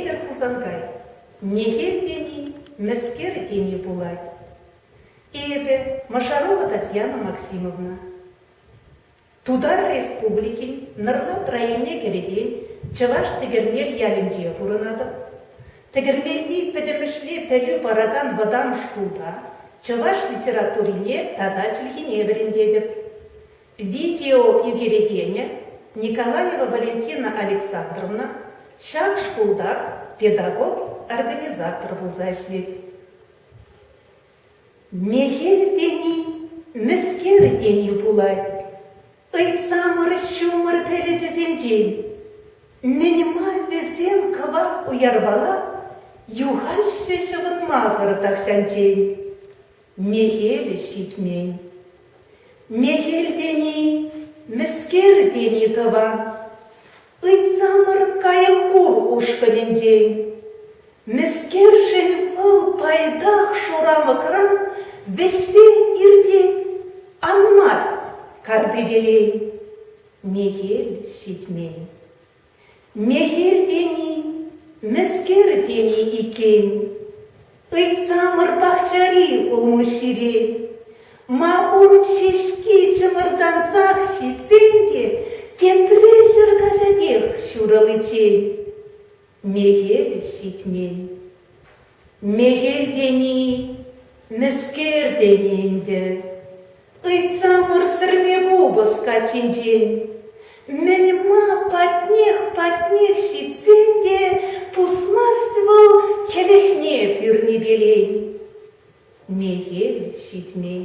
Петӗр Хусанкай, мехел тени, мӗскер тени пулать. Эпӗ, Мӑшарова Татьяна Максимовна. Тутар Республикин Нӑрлат районне кӗрекен Чӑваш Тӗкӗрмел ялӗнче пурӑнатӑп. Тӗкӗрмелти пӗтӗмӗшле пӗлӳ паракан вӑтам шкулта чӑваш литературине тата чӗлхине вӗрентетӗп. Видео ӳкерекенӗ Николаева Валентина Александровна ҫак шкултах педагог-организатор пулса ӗҫлет. Мехел тени мӗскер тени пулать ыйтсамӑр-ҫумӑр перӗчӗсенчен? Мӗн-ма вӗсем кӑвак уярпала юхаҫҫӗ ҫӑвӑнмасӑр тахҫанчен? Мехел ҫитмен. Мехел тени, мӗскер тени тӑван. Ыйтсамӑр кайӑк хур ушкӑнӗнчен. Мӗскершӗн вӑл пайтах шурамӑкран вӗҫсе иртет Анмасть картипелей? Мехел ҫитмен. Мехел тени, мӗскер тени иккен? Ыйтсамӑр пахчари улмуҫҫире. Ма ун ҫеҫки чӑмӑртансах ҫитсен те тепре ҫӗр каҫатех ҫурӑличчен мехел ҫитмен. Мехел тени, мӗскер тени ӗнтӗ. Ыйтса мӑрсӑрми купӑс каччинчен. Мӗн-ма патнех-патнех ҫитсен те пусмасть вӑл хӗлӗхне пӳрнипелен. Мехел ҫитмен.